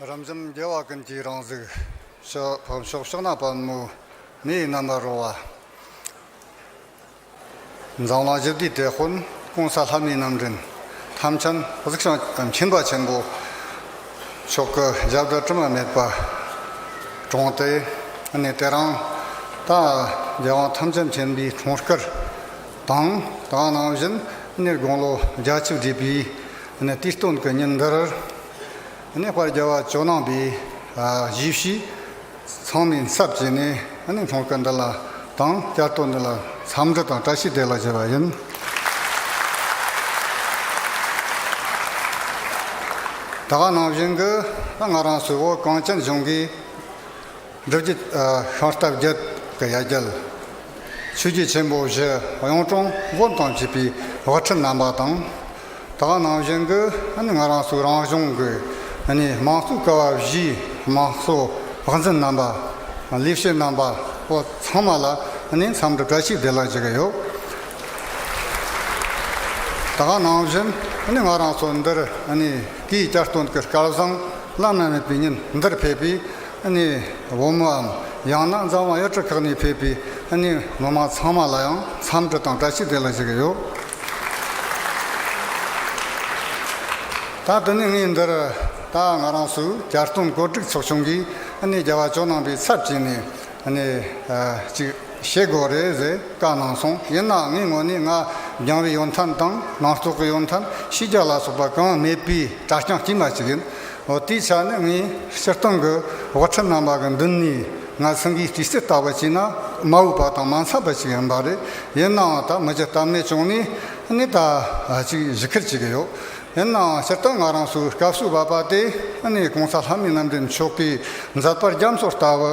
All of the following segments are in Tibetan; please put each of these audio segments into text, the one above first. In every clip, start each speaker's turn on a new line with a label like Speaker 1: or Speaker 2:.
Speaker 1: རབ་འབྱམས་རྒྱལ་བ་ཀུན་གྱི་རང་གཟུགས། བབ་མཆོག་གཤོག་ནག་པདྨོ་མི་ཡི་རྣམ་པར་རོལ་བ། འཛམ་གླིང་བཞི་བསྡུས་དེ་ཧོན་ཀོང་ས་ལྷ་མིའི་རྣམ་འདྲེན། ཐམས་ཅད་གཟུགས་བྱང་ཆུབ་མཁྱེན་པ་ཆེན་པོ། མཆོག་གི་ཞབས་བཀྲ་དྲི་མ་མེད་པར་དྲོངས་ཏེ། ནི་དེ་རང་དང་རྒྱལ་དབང་ཐམས་ཅད་མཁྱེན་པའི་གྲོང་དཀར། དང། ད་ནང་བཞིན་གནས་དགུང་ལོ་བརྒྱ་བཅུ་བགྲེས་པའི་ནི་དུས་སྟོན་གྱི་ཉིན་འདིར། ནི་བར་རྒྱལ་བ་ཇོ་ནང་པའི་གཞིས་བྱེས་ཚང་མའི་ཚབ་བྱས་ནས་ནི་ཚོང་སྐུད་འདི་ལ་དང་བསྐྱར་དོ་འདི་ལ་འཚམས་འདྲི་དང་བཀྲ་ཤིས་བདེ་ལགས་བྱས་པ་ཡིན། ད་ནང་བཞིན་གྱི་ང་རང་སུའོ་གངས་ཅན་གཞུང་གི། རྡོ་རྗེ་ཤོང་སྟབས་བརྒྱད་ཀྱི་ཡ་གྱལ། ཆོས་རྗེ་ཆེན་པོ་བཞི་གཡུང་དྲུང་སྒོམ་དང་བཅས་པའི་བག་ཁྲི་བསྣམས་པ་དང། དག་སྣང་བཞིན་དུ་ང་རང་སུ་རང་གཞུང་གི་དམངས་གཙོའི་སྐལ་བ་བཞིའི་དམངས་གཙོ་བག་འཛིན་རྣམ་པ། ལས་བྱེད་རྣམ་པ་པོ་ཚང་མ་ལ་འཚམས་འདྲི་བཀྲ་ཤིས་བདེ་ལེགས་བྱེད་ཀྱི་ཡོད། དག་སྣང་བཞིན་ང་རང་སུ་འདིར་སྐྱེས་བསྐྱར་སྟོན་གྱི་སྐལ་བཟང་བླ་ན་མེད་པའི་ཉིན་འདིར་ཕེབས་པས། ནས་བུ་མོའམ་ཡང་ན་མཛའ་མ་གཡོ་ཁྲི་ཁག་ནས་ཕེབས་པའི་ནས་མི་མང་ཚང་མ་ལ་ཡང་འཚམས་འདྲི་དང་བཀྲ་ཤིས་བདེ་ལེགས་ཞུ་གི་ཡོད། ད་དུ་ནས་ངས་འདིར་ད་ང་རང་སུ་བསྐྱར་སྟོན་གོ་སྒྲིག་ཚོགས་ཆུང་གིས་ནས་རྒྱལ་བ་ཇོ་ནང་པའི་ཚབ་བྱས་ནས་ནས་ཅིག། ཞེས་གོ་རེ་རེ་བཀའ་གནང་སོང་ཡིན་ནའང་ངའི་ངོ་ནས་ང་རྒྱང་རིང་ཡོད་མཐའ་དང་ནང་བཙོག་གི་ཡོད་མཐའ་ཕྱི་རྒྱ་ལ་སོགས་པ་གང་མེད་པའི་གྲྭ་རྐྱང་དཀྱུས་མ་ཅིག་ཡིན་འོ་དེའི་ཆ་ནས་ངའི་སྤྱིར་བཏང་གི་དབུ་ཁྲིད་རྣམ་པ་གི་མདུན་ནས་ང་སེང་གེའི་སྤྱི་སེར་ལྟ་བུ་བྱས་ན་མ་འོས་པ་དང་མ་འཚམས་པ་ཅིག་ཡིན་པ་རེད་ཡིན་ནའང་ད་མི་ཇི་ལྟ་མེད་བྱུང་ནས་ནི་ད་ཅིག་བཞི་ཁུར་བྱེད་ཀྱི་ཡོད་ཡིན་ནའང་སྤྱིར་བཏང་ང་རང་ཚོའི་སྐབས་སུ་བབ་པ་དེ་ནི་གོང་ས་ལྷ་མི་རྣམ་འདྲེན་མཆོག་གིས་མཛད་པར་རྒྱ་མཚོ་ལྟ་བུ།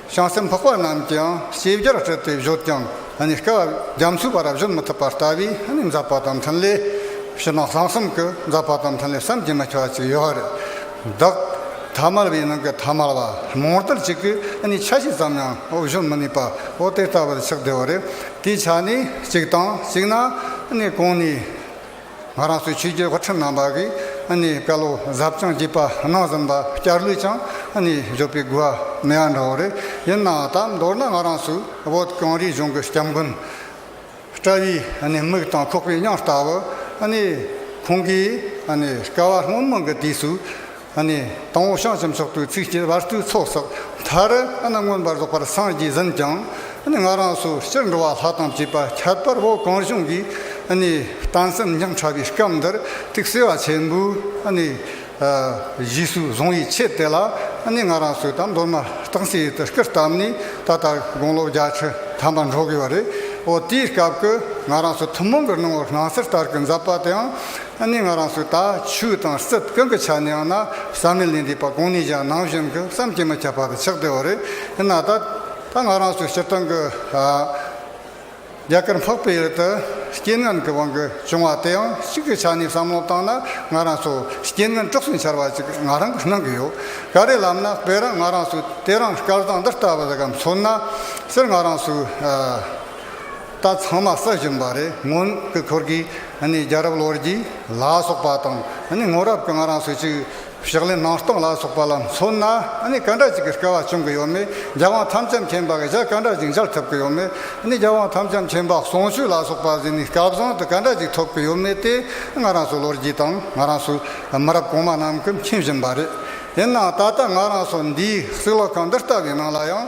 Speaker 1: བྱང་སེམས་འཕགས་པ་རྣམས་ཀྱིའང་ཤེས་བྱར་སྤྲུལ་ཏེ་བཞུགས་ཀྱང་སྐལ་བ་རྒྱ་མཚོའི་བར་བཞུགས་མི་ཐུབ་པར་ལྟ་བས་འཛག་པ་དང་འཕྲིན་ལས་ཕྱི་ནང་གསང་གསུམ་གྱི་འཛག་པ་དང་འཕྲིན་ལས་བསམ་གྱིས་མི་ཁྱབ་པ་ཅིག་ཡོད་བདག། ཐ་མལ་བའི་ནང་གི་ཐ་མལ་བ་མང་དག་ཅིག་གིས་ཆ་ཤས་ཙམ་ཡང་བཞུགས་མི་ནུས་པའོ་དེ་ལྟ་བུར་ཆགས་བདེ་བ་རེད། དེའི་ཆ་ནས་གཅིག་དང་གཅིག་ན་གང་ནས། ང་རང་ཚོའི་ཆོས་རྒྱུད་བར་ཁྲིམས་ནང་བར་གྱི་བཀའ་སློབ་ཟབ་སྦྱོང་བགྱིས་པ་གནང་ཟིན་པ་བསྐྱར་ལུས་ཀྱང་འབྱོར་པའི་དགོས་པ་མེད་ཡ་འདྲ་བོ་རེད་ཡིན་ནའང་ད་མདོར་ན་ང་རང་ཚོའི་བོད་གངས་རིའི་གཞུང་གི་སྐྱབས་མགོན་བཀྲ་བྷེའི་མིག་དང་ཁོག་པའི་གཡང་ལྟ་བུ་ཁོང་གིས་སྐལ་བ་སྔོན་མོ་གི་དུས་སུ། དང་བོ་བྱང་སེམས་སོགས་དུས་ཚིགས་སྐྱེ་བར་དུས་ཚོགས་སོགས་མཐར། མངོན་པར་རྫོགས་པར་སངས་རྒྱས་ཟིན་ཀྱང། ང་རང་སོ་སྤྱིར་འགྲོ་བ་ལྷ་དང་བཅས་པ་ཁྱད་པར་བོ་གང་བྱུང་གི། གཏང་སེམས་ཉམས་ཕྲ་བའི་སྐབས་འདིར་ཐུགས་བརྩེ་བ་ཆེན་པོས། གཞིས་སུ་བཟུང་བའི་ཆེད་དེ་ལ། ང་རང་སོས་དང་མདོར་ན་གཏང་སའི་ཡུལ་དུ་སྐུར་བཏབ་ནས་ད་ལྟ་དགུང་ལོ་བརྒྱ་ཁྲི་ཐམ་པ་འགྲོ་དགོས་པ་རེད། འོ་དེའི་སྐབས་ཀྱི་ང་རང་སོ་ཐུན་མོང་གི་སྣང་བར་སྣང་སྲིད་ལྟར་གྱི་མཛད་པ་དེའང་ཨ་ནི་ང་རང་སུ་ད་ཆུ་དང་སྲིད་དཀོན་གི་ཆ་ནས་ཡང་ན་བསམ་མེད་ལས་འདས་པ་གང་ནས་ཀྱང་ནང་བཞིན་གྱི་བསམ་གྱིས་མི་ཁྱབ་པ་དང་ཆགས་བྲལ་བ་རེད་ཡིན་ན་ད་ད་ང་རང་སུ་ཕྱིར་བཏང་གི་རྒྱ་གར་འཕགས་པའི་ཡུལ་དུ་རྐྱེན་ངན་གྱི་དབང་གིས་བྱུང་བ་དེ་ཡང་གཅིག་གི་ཆ་ནས་བསམ་བློ་བཏང་ན་ང་རང་སུ་རྐྱེན་ངན་དཀྲོགས་སུ་འཆར་བ་ཅིག་ང་རང་གི་སྣང་གི་ཡོད་ག་རེད་ལབ་ན་དཔེར་རང་ང་རང་སུ་དེ་རང་སྐལ་བཟང་འདི་ལྟ་བུ་ཟེར་གམ་མཚོན་ན་ཟེར་ང་རང་སུ་རྟ་ཚང་མ་ས་བཞིན་པ་རེད་སྔོན་གི་འཁོར་གྱི་རྒྱལ་རབས་ལོར་གྱི་ལ་སོགས་པ་དང་སྔོན་རབས་ཀྱི་ང་རང་སོས་ཆུ་བཞག་ལས་ནང་སྟོང་ལ་སོགས་པ་ལ་མཚོན་ན་ག་འདྲ་ཅིག་གི་སྐལ་བ་བྱུང་གི་ཡོད་མེད་རྒྱལ་དབང་དམ་བཅའ་མཁྱེན་པ་གི་ཞལ་ག་འདྲ་ཅིག་མཇལ་ཐུབ་ཀྱི་ཡོད་མེད་རྒྱལ་དབང་དམ་བཅའ་མཁྱེན་པ་ཟུང་ཆུ་ལ་སོགས་པ་བཞིན་ནི་སྐལ་བཟང་དུ་ག་འདྲ་ཅིག་ཐོབ་ཀྱི་ཡོད་མེད་དེ་ང་རང་སོའི་ལོ་རྒྱུས་དང་ང་རང་སོའི་མི་རབས་གོང་མ་རྣམས་ཀྱིས་མཁྱེན་བཞིན་པ་རེད། ཡིན་ནའང་ད་ལྟ་ང་རང་སོ་འདིའི་སྲིད་ལོ་གང་འདི་ལྟ་བུའི་ནང་ལ་ཡང།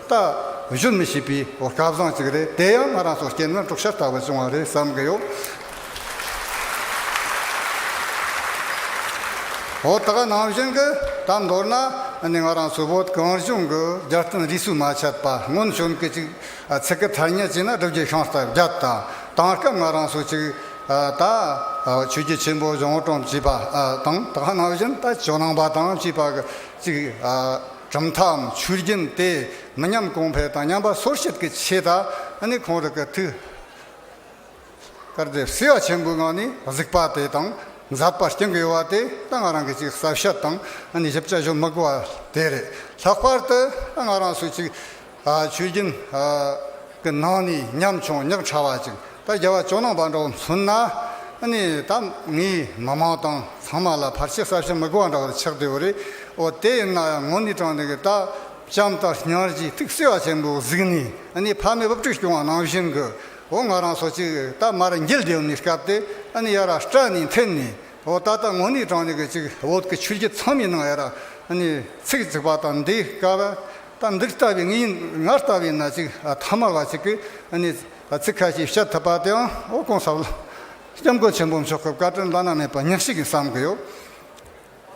Speaker 1: རྟགས་བཞུ་མི་ཤེས་པའི་བཀའ་བཟང་ཅིག་རེད་དེ་ཡང་ང་རང་ཚོ་རྐྱེན་ངན་དཀྲུག་ཤ་ལྟ་བུ་བྱུང་བ་རེད་བསམ་གི་ཡོད། འོ་ད་ག་ནང་བཞིན་གྱི་ད་མདོར་ན་ནི་ང་རང་ཚོའི་བོད་གངས་གཞུང་གི་རྒྱལ་བསྟན་རིས་སུ་མ་ཆད་པ་སྔོན་བྱོན་གྱི་ཅིག་ཚེ་གི་ཐ་སྙད་ཅིག་ན་སྒྲུབ་རྒྱུ་ཤིང་རྟ་བརྒྱ་དང་དང་སྐབས་ང་རང་ཚོ་ཅིག་ད་ཆོས་རྒྱུད་ཆེན་པོ་གཞུང་དྲང་བྱས་པ་དང་ད་ག་ནང་བཞིན་ད་ཇོ་ནང་པ་དང་བཅས་པ་གི་ཅིག་གྲུབ་མཐའམ་ཆུ་རྒྱུན་དེ་མི་ཉམས་གོང་འཕེལ་དང་ཉམས་པ་སོར་བཤིག་གི་ཆེད་དང་ནི་གོང་རི་གི་ཐུགས་ཀར་རྡེབ་བསིལ་བ་ཆེན་པོའི་ངང་ནས་གཟིགས་པ་དེ་དང་འཛག་པར་སྐྱེ་དགོས་བ་དེ་ད་ང་རང་གི་ཅིག་གསབ་ཤ་དང་ནི་ཞིབ་ཆ་ཞུ་དམིགས་བ་དེ་རེད་ལྷག་པར་དུ་ད་ང་རང་སུ་ཅིག་ཆོས་རྒྱུན། གི་ནང་ནས་ཉམ་ཆུང་ཉག་ཕྲ་བ་ཅིག་ད་རྒྱལ་བ་ཇོ་ནང་པ་འདྲ་བོ་མཚོན་ན། ནི་ད་ངའི་མི་མང་དང་ཚང་མ་ལ་ཕར་ཆེར་ས་ཕྱི་མི་དགོས་བ་འདྲ་བོ་ཆགས་བསྡད་པོ་རེད། འོ་དེ་ཡིན་ན་ཡང་ངོ་ནི་དྲང་བདེན་གི་ད་ལྕམ་དང་ཉར་གྱིས་ཐིག་སེ་བ་ཆེན་པོ་གཟིགས་ནས་ནི་ཕ་མའི་བབ་ཁྲུས་སྐྱོང་བ་ནང་བཞིན་གི་འོ་ང་རང་སོ་ཅིག་ད་མར་རྒྱལ་བསྡད་ཡོང་ནས་སྐབས་དེ་ནི་ཡར་ར་སྐྲ་ནས་འཐེན་ནས་འོ་ད་ད་ངོ་ནི་དྲང་བདེན་གི་ཅིག་བོད་ཀི་ཆོས་རྒྱུད་ཚང་མའི་ནང་ཡར་ར་ནི་ཚིག་བརྩིགས་པ་དང་འདི་སྐབས་ད་འདི་ལྟ་བུའི་ངའི་ང་ལྟ་བུའི་ན་ཅིག་ཐ་མ་ལ་ཅིག་གི་ཚིག་ཁ་ཤས་བཤད་ཐུབ་པ་དེའང་ཨོ་གོང་ས ྋསྐྱབས་མགོན་ཆེན་པོ་མཆོག་གི་བཀའ་དྲིན་བླ་ན་མེད་པ་ཉག་ཞིག་ཡིན་བསམ་གི་ཡོད།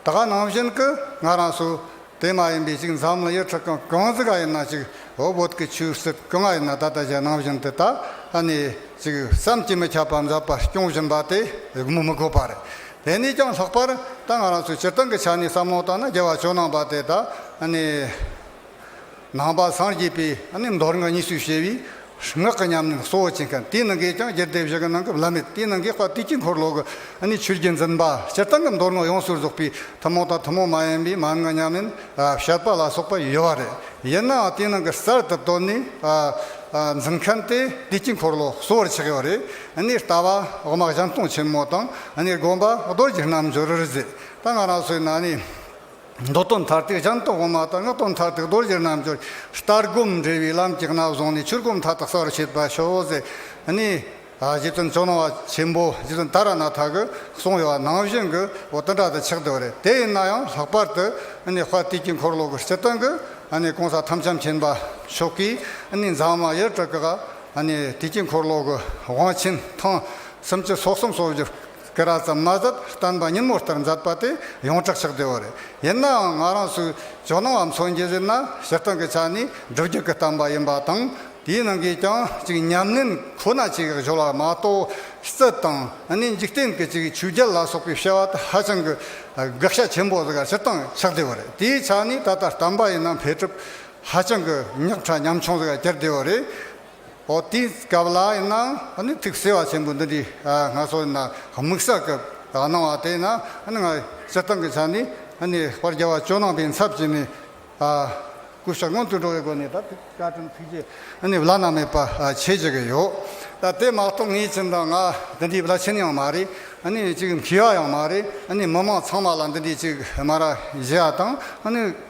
Speaker 1: ད་ག་ནང་བཞིན་གི་ང་རང་སུ་དེ་མ་ཡིན་པའི་ཅིག་འཛམ་གླིང་ཡུལ་གྲགས་ཀྱང་གང་ཟིག་ག་ཡིན་ན་ཅིག་ཨོ་བོད་ཀྱི་ཆོས་སྲིད་གང་ཡིན་ན་ད་ལྟ་གཞན་ནང་བཞིན་དེ་དག་ཅིག་བསམ་གྱིས་མི་ཁྱབ་པ་འཛབ་པ་སྐྱོང་བཞིན་པ་དེ་མི་དགོས་པ་རེད། དེ་ནས་ཀྱང་ལྷག་པར་ད་ང་རང་ཚོས་སྤྱིར་བཏང་གི་ཆ་ནས་བསམ་བློ་བཏང་ན་རྒྱལ་བ་ཇོ་ནང་པ་དེ་དག་ནི། ནང་པ་སངས་རྒྱས་པའི་མདོ་རིང་གཉིས་སུ་ཕྱེ་བའི་ངག་གི་ཉམས་ལེན་གཙོ་བོ་བྱེད་མཁན་དེའི་ནང་གི་ཀྱང་རྒྱལ་སྡེ་བཞི་གི་ནང་གི་བླ་མེད་དེའི་ནང་གི་དཔའ་སྤྲུལ་དཀྱིལ་འཁོར་ལོ་གི་ཆོས་རྒྱུད་འཛིན་པ་སྤྱིར་བཏང་གི་མདོ་རིང་ཡོངས་སུ་རྫོགས་པའི་ཐུན་མོང་དང་ཐུན་མོང་མ་ཡིན་པའི་མན་ངག་ཉམས་ལེན་བཤད་པ་ལ་སོགས་པ་ཡོད་པ་རེད་ཡིན་ནའང་དེའི་ནང་གི་གསར་དུ་བཏོན་ནས་འཛིན་མཁན་དེ་དཀྱིལ་འཁོར་ལོ་གཙོ་བོར་ཆགས་ཡོད་རེད། གནས་ལྟ་བ་དབུ་མ་ལྗང་སྟོང་ཆེན་མོ་དང་གནས་སྒོམ་པ་རྡོ་རྗེ་རྣལ་འབྱོར་རིག་འཛིན་ལྟ་ང་རང་སོའི་ནང་ནས་མདོ་སྟོད་མཐར་ཐུག་ལྗང་སྟོང་དབུ་མ་དང་སྔགས་སྟོད་མཐར་ཐུག་རྡོ་རྗེ་རྣལ་འབྱོར་ལྟར་སྒོམ་འབྲས་བུའི་ལམ་གྱི་རྣལ་བཟང་ནས་ཆོས་སྒོམ་མཐའ་དག་གསལ་བར་བྱེད་པ་ཤོག་ཟེར་ནས། རྗེ་བཙུན་བྱོན་ནོར་བ་ཆེན་པོ་རྗེ་བཙུན་ཏཱ་ར་ནཱ་ཐ་གིས་གསུངས་ཡོད་པ་ནང་བཞིན་གྱི་འོ་དོད་འདྲ་དང་ཆགས་དོད་རེད་དེ་ཡིན་ན་ཡང་ལྷག་པར་དུ་དཔལ་དུས་དཀྱིལ་འཁོར་ལོ་གི་སྤྱི་དོན་གྱི་གང་ཟག་ཐམས་ཅད་མཁྱེན་པ་མཆོག་གིས་མཛངས་མ་ཡི་གྲུ་ག་དེ་དཀྱིལ་འཁོར་ལོ་གི་དབང་ཆེན་ཐང་གསུམ་གྱི་སོགས་གསུམ་སོགས་བཞི་ཀ་ར་ཙམ་མ་ཟད་བསྟན་པ་སྙིང་མོ་ལྟར་མཛད་པ་དེ་ཡོངས་གྲགས་ཆགས་བདེ་བ་རེད། ཡིན་ནའང་ང་རང་ཚོས་ཇོ་ནང་བ་མཚོན་གྱི་གཞི་ན་སྤྱིར་བཏང་གི་ཆ་ནས་སྒྲུབ་རྒྱུད་ཀྱི་བསྟན་པ་ཡིན་པ་དང། དེའི་ནང་གི་ཀྱང་གཅིག་ཉམས་ལེན་ཁོ་ན་གཅིག་གཞོལ་བ་མ་གཏོགས་རྩིས་དང་ནི་འཇིག་རྟེན་གྱི་གཅིག་ཆོས་རྒྱལ་ལ་སོགས་པའི་བཤད་བ་དེ་ཧ་ཅང་གི་དགག་བྱ་ཆེན་པོ་ཟེར་བ་སྤྱིར་བཏང་ཆགས་བདེ་བ་རེད། དེའི་ཆ་ནས་ད་ལྟ་བསྟན་པ་ཡིན་ནམ་འཕེལ་གྲུབ་ཧ་ཅང་གི་ཉག་ཕྲ་ཉམ་ཆུང་ཟེར་བ་སྐྱར་བྲིས་བ་རེད། འོ་དེའི་སྐབས་ལ་ཡིན་ན་ནི་ཐིག་གསལ་བ་ཆེན་པོ་འདི་འདྲའི་སྔ་སོར་ཡིན་ན་དམིགས་བསལ་སྐབས་གནང་བ་དེ་ཡིན་ན་ང་སྤྱིར་བཏང་གི་ཆ་ནས་དཔར་རྒྱ་བ་ཅོ་ནང་པའི་མཚར་བཅས་ནས་སྐུ་ཞབས་སྔོན་དུ་འགྲོ་བའི་སྒོ་ནས་ད་ཐིག་བཀའ་དྲིན་ཐུགས་རྗེ་བླ་ན་མེད་པ་ཆེ་བྱེད་ཀྱི་ཡོད། ད་དེ་མ་གཏོགས་ངའི་ཁྱིམ་དང་ང་འདི་འདྲའི་བླ་ཆེན་ཡང་མ་རེད་ཅིག་མཁས་པ་ཡང་མ་རེད་མི་མང་ཚང་མ་ལ་འདི་འདྲའི་ཅིག་སྨ་ར་བཞེས་བ་དང།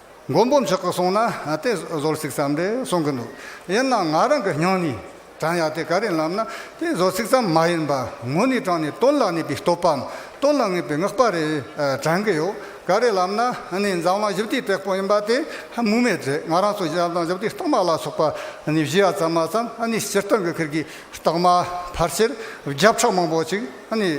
Speaker 1: མགོན་པོ་མཆོག་གིས་གསུངས་ན་དེ་བཟོར་ཚིག་ཙམ་རེད་གསུང་གི་འདུག་ཡིན་ནའང་ང་རང་གི་སྙིང་ནས་དྲན་ཡག་དེ་ག་རེ་ལབ་ན་དེ་བཟོ་ཚིག་ཙམ་མ་ཡིན་པར་ངོ་ནས་དྲན་ནས་དོན་ལ་གནས་པའི་སྟོབས་པའམ་དོན་ལ་ངེས་པའི་བསྔགས་པ་རེ་དྲན་གི་ཡོད་ག་རེ་ལབ་ན་ནི་འཛམ་གླིང་བཞི་བདེའི་དཔེ་ཁོ་ཡིན་པ་དེ་སྨོས་མེད་རེད་ང་རང་ཚོ་བཞི་འཛམ་གླིང་བཞི་བདེའི་རྟགས་མ་ལ་སོགས་པ་ནི་བཞི་ཡ་ཙམ་མ་ཙམ་ནི་སྤྱིར་བཏང་གི་ཁུལ་གྱི་རྟགས་མ་ཕར་ཆེར་བརྒྱ་ཕྲག་མང་པོ་ཅིག་ནི།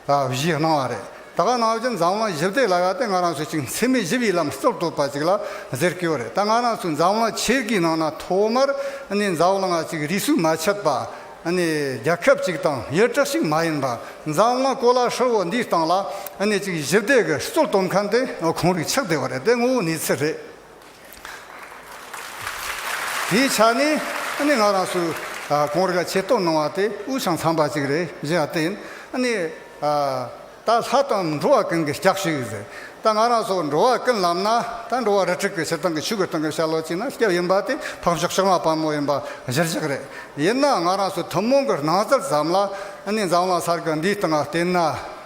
Speaker 1: ལ་བཞི་སྣང་བ་རེད། ད་ག་ནང་བཞིན་འཛམ་གླིང་ཞིབ་བལྟས་ལ་ཡག་སྟེ་ང་རང་ཚོ་གཅིག་འཚེ་མེད་ཞི་བའི་ལམ་སྟོར་དོགས་པ་ཅིག་ལ་ཟེར་སྐྱོ་རེད་ད་ང་རང་ཚོ་འཛམ་གླིང་ཆེར་གི་ནང་ན་ཐོག་མར་ནས་འཛམ་གླིང་གཅིག་རིས་སུ་མ་ཆད་པ་ནས་རྒྱ་ཁབ་ཅིག་དང་ཡུལ་གྲགས་ཤིག་མ་ཡིན་པ་འཛམ་གླིང་གོ་ལ་ཧྲིལ་བོ་འདིའི་སྟེང་ལ་ནས་གཅིག་ཞིབ་བལྟས་གི་གཙོ་དོམ་མཁན་དེ་གང་རིགས་ཆགས་བསྡད་པ་རེད་དེ་ངོ་བོ་ནི་ཚེ་རེད། དེའི་ཆ་ནས་ནི་ང་རང་སུ་གང་རིག་ཆེ་བསྟོད་གནང་བ་དེ་དབུས་ཤིང་འཚམས་པ་ཅིག་རེད་བཞེད་པ་དེ་ནི། ད་ལྷ་དང་འགྲོ་བ་ཀུན་གྱི་སྐྱབས་ཤིག་ཡིན་ཟེར། ད་ང་རང་སོགས་འགྲོ་བ་ཀུན་ལམ་ན་ད་འགྲོ་བ་རུ་ཁྲིག་གི་ཕྱིར་ཐང་གི་ཆོས་ཀུན་ཐང་གི་ཤར་ལོགས་གཅིག་ན་སྐྱབས་ཡིན་པ་དེ་འཕགས་མཆོག་ཤར་མ་དཔའ་མོ་ཡིན་པ་གཞིར་བཞག་རེད། ཡིན་ནའང་ང་རང་སུ་ཐུན་མོང་གི་སྣང་ཚུལ་ཙམ་ལ་ནི་འཛམ་གླང་གསར་གྱི་འདིའི་སྟེང་བསྟན་ན།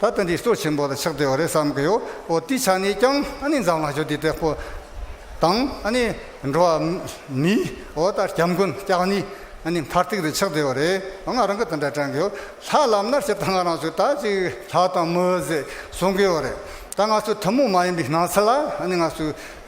Speaker 1: ད་ལྟ་འདི་གཙོ་ཆེན་པོ་ལ་ཆགས་བསྡད་པ་རེད་བསམ་གི་ཡོད་འོ་དེའི་ཆ་ནས་ཀྱང་ཨ་ནི་འཛམ་གླིང་ཆོས་འདི་དྲེགས་པོ་དང་ཨ་ནི་འགྲོ་བ་མིའི་འོ་ལྟར་སྐྱབས་མགོན་སྐྱག་ནི་ཨ་ནི་མཐར་ཐུག་དུ་ཆགས་བསྡད་པ་རེད་ང་རང་གི་དོན་དག་དྲན་གི་ཡོད་ལྷ་ལམ་ནར་ཕྱིར་ད་ང་རང་ཚོས་ད་ཅིག་ལྷ་དང་མོའི་ཟེ་བཟུང་གི་ཡོད་རེད་ད་ང་ཚོ་ཐུན་མོང་མ་ཡིན་པའི་སྣང་ཚུལ་ལ་ཨ་ནི་ང་ཚོས་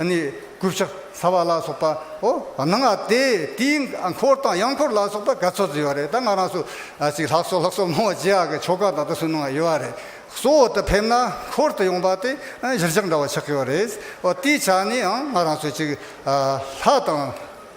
Speaker 1: ནི། ཀུ་ཤ་ཟ་བ་ལ་སོགས་པའོ། ནང་ང་སྟེ་དེའི་འཁོར་དང་གཡང་འཁོར་ལ་སོགས་པ་ག་ཚོད་ཚོད་ཡོད་རེད་ད་ང་རང་སུ་ཞིག་ལྷག་སོ་ལྷག་སོ་སྨྲ་བ་ཇི་ཡག་གི་ཆོ་ག་དང་དུ་སུན་སྣང་བ་ཡོད་རེད། གཙོ་བོ་དུ་ཕེབས་ན་འཁོར་དུ་ཡོང་པ་དེ་གཞིར་བཞག་འདྲ་བ་ཆགས་ཀྱི་ཡོད་རེད། དེའི་ཆ་ནས་ཡང་ང་རང་སུ་ཞིག་ལྷག་དང།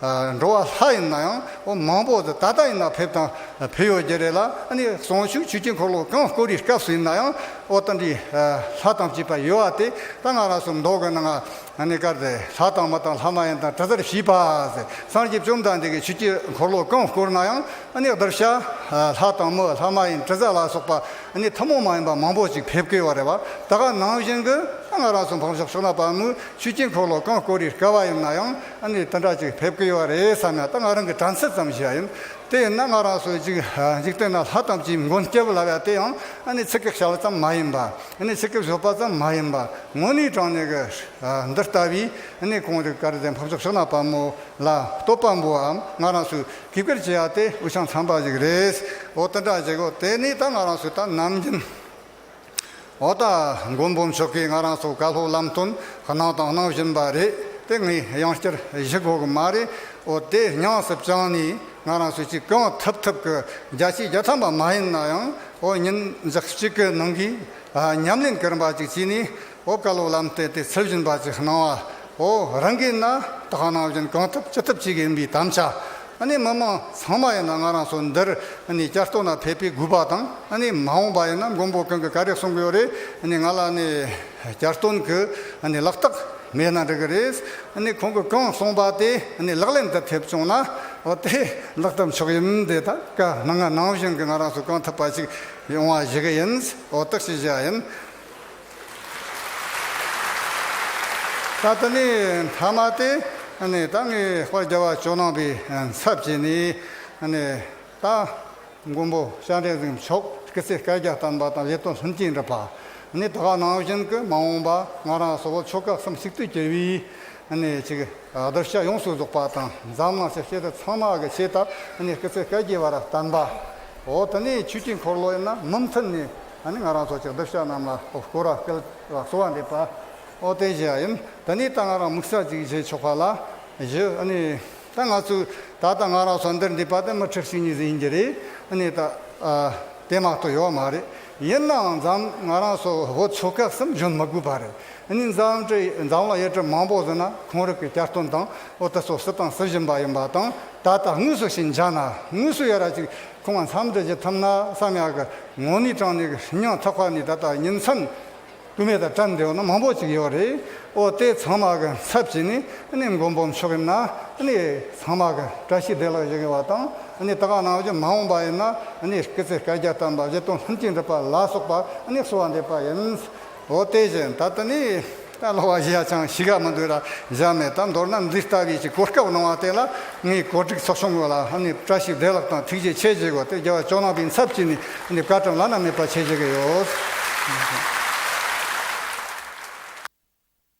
Speaker 1: འགྲོ་བ་ལྷ་ཡིན་ན་ཡང་མང་པོ་ད་ལྟ་ཡིན་ན་ཕེབས་དང་ཕེབས་ཡོད་རྒྱུ་རེད་ལ་ནི་ཟུང་ཆུ་ཆུ་སྐྱེས་འཁོར་ལོ་གང་བསྐོར་རིའི་སྐབས་སུ་ཡིན་ན་ཡང་ཨོ་ད་འདྲི་ལྷ་དང་བྱིས་པ་ཡོད་བ་དེ་ད་ང་རང་སུ་མདོག་གི་ན་ང་ནི་སྐར་དེ་ལྷ་དང་མི་དང་ལྷ་མ་ཡིན་དང་གྲི་རྩར་བྱིས་པ་སངས་རྒྱས་བཅོམ་ལྡན་འདས་ཀྱི་ཆུ་སྐྱེས་འཁོར་ལོ་གང་བསྐོར་ན་ཡང་ནི་བདག་ཤ་ལྷ་དང་མི་ལྷ་མ་ཡིན་གྲི་རྩ་ལ་སོགས་པ་ནི་ཐུན་མོང་མ་ཡིན་པ་མང་པོ་ཅིག་ཕེབས་དཀའི་བ་རེད་བ་ད་ག་ནང་བཞིན་གྱི་ད་ང་རང་སུ་འཕང་ཕྱོགས་ཕྱོགས་ན་པ་ནི་ཆུ་སྐྱེས་འཁོར་ལོ་གང་བསྐོར་རིའི་སྐལ་བ་ཡིན་ན་ཡང། ཨ་ནི་དེ་འདྲ་ཅིག་ཕེབས་ཀྱི་ཡོད་རེད་བསམ་ཡང་ད་ང་རང་གི་དྲན་ཚད་ཙམ་ཞིག་ཡིན། དེས་ན་ང་རང་ཚོའི་འཇིག་འཇིག་རྟེན་ན་ལྷ་དམ་ཅིག་མགོན་སྐྱབས་ལ་བས་དེ་ཡང་ཨ་ནི་ཚེ་སྐད་བྱ་བ་ཙམ་མ་ཡིན་པ། ཨ་ནི་ཚེ་སྐད་བཟོ་པ་ཙམ་མ་ཡིན་པ། དངོས་གནས་དྲང་གནས་ཀྱི། འདི་ལྟ་བུའི་ཨ་ནི་གངས་རི་དཀར་ཟླའི་འཕགས་མཆོག་ཕྱོགས་ན་དཔའ་མོ་ལ་སྟོབས་དཔའ་མོའམ་ང་རང་ཚོས་གུས་བཀུར་བྱེད་ཡ་དེ་འུ་ཆང་ཚང་པ་ཞིག་རེད། འོ་དེ་འདྲ་ཅིག་འོ་དེ་ནས་ད་ང་རང་ཚོས་ད་ནམ་རྒྱུན། འོ་ད་མགོན་པོ་མཆོག་གིས་ང་རང་སོགས་བཀའ་སློབ་ལམ་སྟོན་གནང་དང་གནང་བཞིན་པ་རེད་དེ་ངས་ཡང་བསྐྱར་གཞི་དགོས་གི་མ་རེད་འོ་དེ་ཉང་སྲིབ་བྱང་ནས་ང་རང་སོས་ཀྱི་གང་ཐུབ་ཐུབ་གི་རྒྱ་ཆེའི་རྒྱལ་ཐམས་པ་མ་ཡིན་ན་ཡང་འོ་ཉིན་གཅིག་གི་ནང་གི་ཉམས་ལེན་གིར་འབའ་ཅིག་བྱས་ནས་ཨོ་བཀའ་སློབ་ལམ་སྟོན་དེ་ཚུལ་བཞིན་པ་ཅིག་གནང་བ་འོ་རང་གིས་ན་དག་སྣང་བཞིན་གང་ཐུབ་ཅི་ཐུབ་བྱེད་གི་ཡིན་པའི་དམ་བཅའ་ནི་མི་མང་ཚང་མ་ཡིན་ན་ང་རང་ཚོ་འདིར་ནི་བསྐྱར་གཏོར་ན་ཕེབས་པའི་དགོས་པ་དང་ནི་མ་འོངས་པ་ཡིན་ན་མགོན་པོ་གང་གི་ག་རེ་གསུང་གི་ཡོད་རེད་ནི་ང་ལ་ནི་བསྐྱར་གཏོར་གི་ནི་ལག་རྟགས་མེད་ན་འགྲིག་གི་རེད་ནི་ཁོང་གི་གང་གསུང་པ་དེ་ནི་ལག་ལེན་དུ་ཕེབས་བྱུང་ན་འོ་དེ་ལག་ཐབས་མཆོག་ཡིན་དེ་ད་ག་ནང་ང་ནང་བཞིན་གི་ང་རང་ཚོ་གང་ཐུབ་པ་ཅིག་ཡོང་བ་བྱེད་གི་ཡིན་འོ་རྟགས་ཤིག་བཞག་ཡིན། ད་ལྟ་ནི་མཐའ་མ་སྟེ། ད་ངས་དཔའ་རྒྱ་བ་ཅོ་ནང་པའི་ཚབ་བྱས་ནས། ད་མགོན་པོ་ཤཱཀ་འགྲན་སེང་མཆོག་གི་ཚེ་བསྐལ་བརྒྱ་བསྟན་པ་དང་ལས་དོན་ལྷུན་གྱིས་འགྲུབ་པ། ད་ག་ནང་བཞིན་གྱི་མ་འོངས་པ་ང་རང་སོགས་པོ་ཆོལ་ཁ་གསུམ་གཅིག་ཏུ་གྱུར་བའི་ཆེད་གདུལ་བྱ་ཡོངས་སུ་རྫོགས་པ་དང་འཛམ་གླིང་ཆེ་ཤེལ་ཚང་མ་གི་ཆེད་དུ་ཀི་ཚེ་བསྐལ་བརྒྱའི་བར་བསྟན་པ། འོ་ད་ནི་ཆོས་ཀྱི་འཁོར་ལོ་ཡིན་ན་མུ་མཐུད་ནས། ད་ནི་ང་རང་ཚོ་ཅག་འདབ་ཆགས་རྣམས་ལ་ཨོ་སྐོ་ར་སྐལ་ལ་གསོ་བ་འདེབས་པ། ཨོ་བསྟན་བྱེད་ཡ་ཡིན། ད་ནི་ད་ང་རང་མུག་ཤ་ཅིག་བྱེད་ཆོག་པ་ལ། བཞི། ཨ་ནི། ད་ང་ཚོས་ད་ལྟ་ང་རང་ཚོ་འདིར་འདུས་པ་དེ་མི་ཁྲི་བཞི་གཉིས་ཟིན་ཡིན་གྱི་རེད། ཨ་ནི། ད་དེ་མ་གཏོགས་ཡོད་མ་རེད། ཡིན་ནའང་འཛམ་ང་རང་ཚོ་བོད་ཆོལ་ཁ་གསུམ་འཇོན་མི་དགོས་པ་རེད། ཨ་ནི། འཛམ་གྲི་འཛམ་ལ་ཡས་གྲི་མང་པོ་ཟིན་ན་གོང་རིགས་ཀྱི་བསྐྱར་སྟོན་དང་ཨོ་ད་ཚོ་སྲིད་ཏང་སྲིད་གཞུང་པ་ཡིན་པ་དང་ད་ལྟ་དངོས་སུ་ཞིང་ཆ་ན་དངོས་སུ་ཡོད་ར་ཅིག་ཁོང་མཚམས་འདྲི་བྱེད་ཐུབ་ན་བསམ་ཡག་གི། ངོ་ནི་ཀྲང་ནི་གི་ཧྲི་ཉང་ཐག་ཁ་ནི་ད་ལྟ་ཉིན་མཚམས་དཀོན་མེད་དང་ཀྲང་འབྲེལ་བ་ན་མང་པོ་ཅིག་ཡོད་རེད་ཨོ་དེ་ཚང་མ་གི་ཚབ་བྱས་ནས་ནི་མགོ་འབོམ་ཆོག་གི་ན་ནི་ཚང་མ་གི་བཀྲ་ཤིས་བདེ་ལགས་ཡག་བ་དང་ནི་ད་ག་ནང་བཞིན་མ་འོངས་པ་ཡིན་ན་ནི་སྐེ་ཚེ་བཀའ་རྒྱ་དམ་པ་བཞི་སྟོང་ལྷན་སྐྱེས་འགྲུབ་པ་ལ་སོགས་པ་ནི་གསོལ་བ་འདེབས་པ་ཡིན། འོ་དེ་བཞིན་ད་ལྟ་ནི། ད་ལོ་བ་བཞི་ཡ་ཆང་བྱི་ག་མི་འདུག་ལ་བཞག་མེད་ད་མདོར་ན་འདི་ལྟ་བུའི་ཀྱི་གོ་སྐབས་གནང་བ་དེ་ལ་ངས་གོ་སྒྲིག་ཚོགས་ཆུང་གི་ལ་ནི་བཀྲ་ཤིས་བདེ་ལགས་དང་ཐུགས་རྗེ་ཆེ་བྱེད་དགོས་ཏེ་རྒྱལ་བ་ལྕོག་ནང་པའི་ཚབ་ཀྱིས་ནི་བཀའ་དྲིན་བླ་ན་མེད་པ་ཆེ་བྱེད་ཀྱི་ཡོད།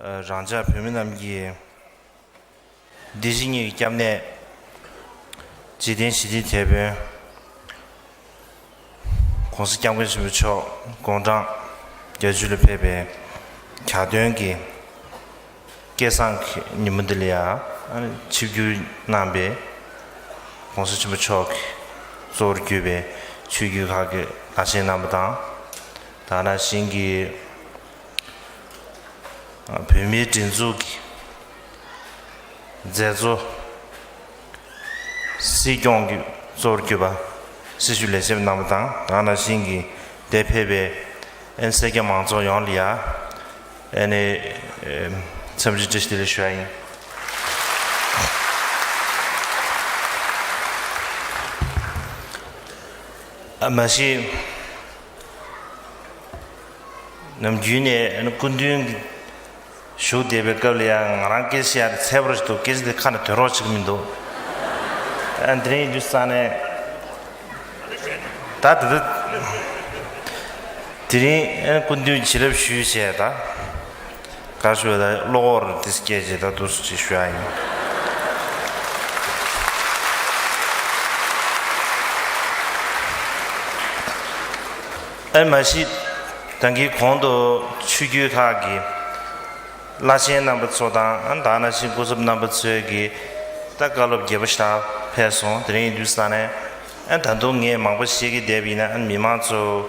Speaker 2: རང་ཅག་བོད་མི་རྣམས་ཀྱི་བདེ་སྐྱིད་གཉིས་ཀྱི་སྐྱབས་གནས། འཇིག་རྟེན་ཞི་བདེའི་དེད་དཔོན། ྋགོང་ས ྋསྐྱབས་མགོན་ཆེན་པོ་མཆོག་དགུང་གྲངས་གྱ་བཅུ་ལ་ཕེབས་པའི་གྱ་སྟོན་གྱི་སྐལ་བཟང་གི་ཉིན་མོ་འདི་ལ་ཡང་ཆིབས་བསྒྱུར་གནང་པས། ྋགོང་ས་ཆེན་པོ་མཆོག་གིས་གཙོ་བོར་གྱུར་པའི་ཆོས་བརྒྱུད་ཁག་གི་བླ་ཆེན་རྣམ་པ་དང། དང་ར་ཞིང་གི། བོད་མིའི་སྒྲིག་འཛུགས་ཀྱི་མཛད་གཙོ། སྲིད་སྐྱོང་གི་གཙོ་བོར་གྱུར་པ། སྲི་ཞུ་ལས་བྱེད་པ་རྣམ་པ་དང་གང་ན་ཞིང་གི་དེ་ཕེབས་པའི་ཨན་སེ་རྒྱ་མང་ཚོགས་ཡོངས་ལ་ཡ་ཨན་ནས་འཚམས་འདྲི་བཀྲིས་བདེ་ལེགས་ཞུ་བ་ཡིན། མ་གཞི། ནམ་རྒྱུན་ནས་སྐུ་མདུན་བཞུགས་བསྡད་པའི་སྐབས་ལ་ཡང་ང་རང་སྐད་ཆ་ཡག་དེ་ཚད་པོ་རེ་ཞིག་འདུག་སྐད་ཆ་དེ་ཁ་ནས་དོན་རོགས་ཅིག་མི་འདུག་ཨ་འདི་རིང་འདུག་ས་ནས་ད་དེ་དེ་དེ་རིང་སྐུ་མདུན་བྱིན་རླབས་ཞུས་བྱས་ད། ག་ཞུ་བ་ད་གློག་བོར་རེད་དེ་སྐད་ཅིག་ད་དུ་སུ་ཅིག་ཞུ་ཡ་ཡིན། ཨེ་མ་གཞི་དང་གི་གོང་དུ་ཆོས་རྒྱུད་ཁག་གི་བླ་ཆེན་རྣམ་པ་ཚོ་དང་དང་ན་ཆེན་སྐུ་ཚབ་རྣམ་པ་ཚོས་གི་ད་བཀའ་སློབ་རྒྱས་པོ་ཞག་ཕེབས་སོང་དེ་རིང་དུས་ས་ནས་ད་དུང་ངས་མང་པོ་བཤད་གི་བསྡད་པ་ཡིན་ན་མི་མང་ཚོ།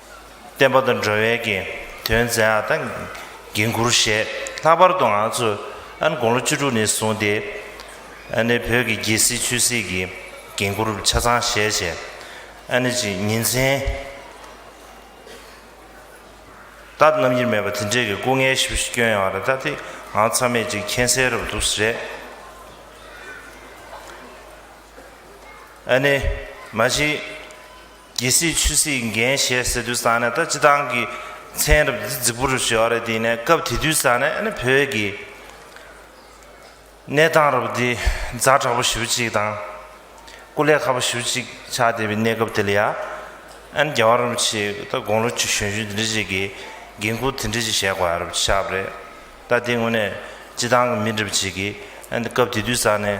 Speaker 2: བསྟན་པ་དང་འགྲོ་བའི་དགེ་འདུན་མཛད་ཨ་ད་འགན་ཁུར་བཞེས་ལྷག་པར་དུ་ང་ཚོ་ཨན་དགུང་ལོ་བཅུ་དྲུག་ནས་བཟུང་སྟེ་ཨ་ནེ་བོད་ཀྱི་རྒྱལ་སྲིད་ཆོས་སྲིད་ཀྱི་འགན་ཁུར་ཆ་ཚང་བཞེས་ཆེ་ཨ་ནེ་ཅིག་ཉིན་མཚན་ལྟར་རྣམ་དབྱེར་མེད་པར་དེ་འདྲའི་གི་སྐུ་ངལ་ཞིབ་ཞིབ་སྐྱོན་ཡོང་བ་རེད་ད་དེ་འང་ཚང་མས་ཅིག་མཁྱེན་གསལ་རབ་འདུག་རེད་ཨ་ནེ་མ་གཞི། རྒྱལ་སྲིད་ཆོས་སྲིད་འགན་བཞེས་ཟེར་དུས་ས་ནས་ད་སྤྱི་བཏང་གི་མཚན་རབ་རྫི་རྫི་པོ་རུ་བྱེད་བ་རེད་དེ་ནས་སྐབས་དེ་དུས་ས་ནས་ཨ་ནི་བོད་ཀྱི་གནས་སྟངས་རབ་འདི་རྫ་དྲག་པོ་ཞིབ་ཅིག་དང་སྐུ་ལས་ཁ་པོ་ཞིབ་ཅིག་ཆགས་བསྡད་པའི་གནས་སྐབས་དེ་ལ་ཡ་ཨ་ནི་རྒྱལ་བ་རིན་པོ་ཆེ་ད་དགོང་ལོ་གཅིག་གཞོན་གཞོན་དེ་འདྲ་ཞིག་གིས་འགན་ཁུར་དེ་འདྲ་ཞིག་བཞེས་དགོས་རབ་ཆགས་པ་རེད་ད་དེ་དངོས་གནས་སྤྱི་བཏང་གི་མི་འདྲ་བ་ཅིག་གིས་ཨ་ནི་སྐབས་དེ་དུས་ས་ནས།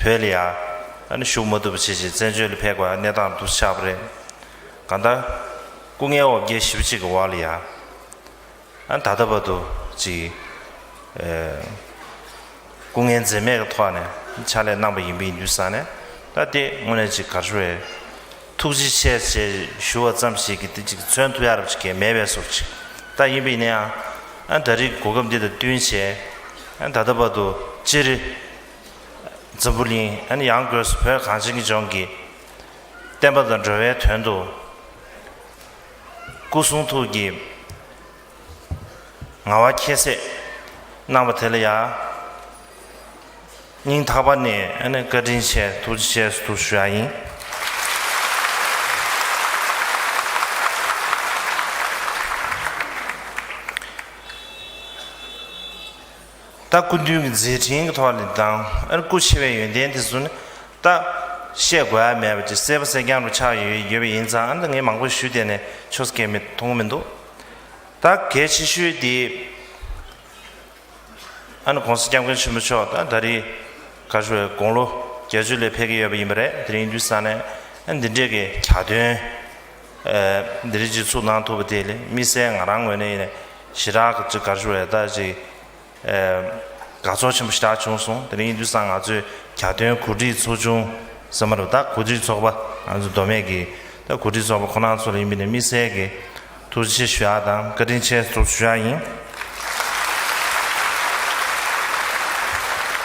Speaker 2: བོད་ལ་ཡང་ཞུགས་མ་ཐུབ་པ་ཇི་བཞིན་བཙན་བྱོལ་ལ་ཕེབས་པའི་གནས་སྟངས་འདུག་ཆགས་པ་རེད། གང་ལྟར་སྐུ་ངལ་འོག་བརྒྱད་བཞི་བ་གཅིག་གི་བར་ལ་ཡང་ད་ལྟ་བར་དུ་ཅིག་སྐུ་ངལ་འཛེམས་མེད་ཀྱི་ཐོག་ནས་ཕྱག་ལས་གནང་པ་ཡིན་པས་ཡིན་དུས་ས་ནས་ད་ལྟའི་དངོས་གནས་ཅིག་གར་ཞུ་བའི་ཐུགས་རྗེ་ཆེ་ཞེས་ཞུ་བ་ཙམ་ཞིག་གིས་དེ་གཅིག་མཚོན་ཐུབ་ཡ་རབས་ཅིག་གས་མེད་པས་སོ། ཅིག་ལྟ་ཡིན་པས་ཡིན་ཡང། ད་རིགས་གོ་སྐབས་འདི་དང་བསྟུན་ཞེས། ད་ལྟ་བར་དུ་སྤྱིར། འཛམ་བུ་གླིང། ཡང་སྒོས་སུ་བོད་གངས་ཅན་གྱི་ལྗོངས་ཀྱི། བསྟན་པ་དང་འགྲོ་བའི་དོན་དུ། སྐུ་གསུང་ཐུགས་ཀྱི། ང་བ་ཁྱད་བསད་གནང་བ་དེ་ལ་ཡང་སྙིང་ཐག་པ་ནས་བཀའ་དྲིན་ཆེ་ཐུགས་རྗེ་ཆེ་ཞུ་ཡག་ཡིན། ད་སྐུ་མདུན་གྱི་མཛད་འཕྲིན་གྱི་ཐོག་ནས་དང་ཨར་སྐུ་ཆེ་བའི་ཡོན་ཏན་དེ་ཚོ་ནི་ད་བཤད་དགོས་ཨ་མེད་པ་ཅིག་གསལ་པོ་གསལ་རྐྱང་རུ་ཆགས་ཡོད་ཡོད་པ་ཡིན་ཙང་ཨ་མདོ་ངས་མང་པོ་ཞུ་བསྡད་ནས་ཆོས་སྐད་མི་མཐོང་མི་འདུག་ད་གལ་ཆེ་ཤོས་དེ་ཨ་ནི་གོང་ས་སྐྱབས་མགོན་ཆེན་པོ་མཆོག་ད་ད་རེས་ག་ཞུ་བའི་དགུང་ལོ་བརྒྱད་ཅུ་ལས་ཕེབས་ཀྱི་ཡོད་པ་ཡིན་པ་རེད་དེ་རིང་འདུས་ས་ནས་འདི་འདྲས་ཀྱི་གྱ་སྟོན། འདི་རིགས་ཀྱི་ཚུགས་གནང་ཐུབ་པ་དེ་ལས་དམིགས་བསལ་ང་རང་ངོས་ནས་ཡིན་ན་ཞི་དྲག་གི་གཅིག་གར་ཞུ་བའི་ལྟར་གཅིག་དགའ་ཚོར་ཆེན་པོ་ཞི་དྲག་བྱུང་སོང་དེ་རིང་དུས་སང་ང་ཚོས་གྱ་སྟོན་གོ་སྒྲིག་ཚོགས་ཆུང་ཟེར་མ་རེད་ད་གོ་སྒྲིག་ཚོགས་པ་ང་ཚོ་མདོ་སྨད་ཀྱི་ད་གོ་སྒྲིག་ཚོགས་པ་ཁོ་ན་ཚོར་ཡིན་པའི་ནས་དམིགས་བསལ་གྱི་ཐུགས་རྗེ་ཆེ་ཞུ་ཡག་དང་བཀའ་དྲིན་ཆེ་ཐུགས་ཞུ་ཡག་ཡིན།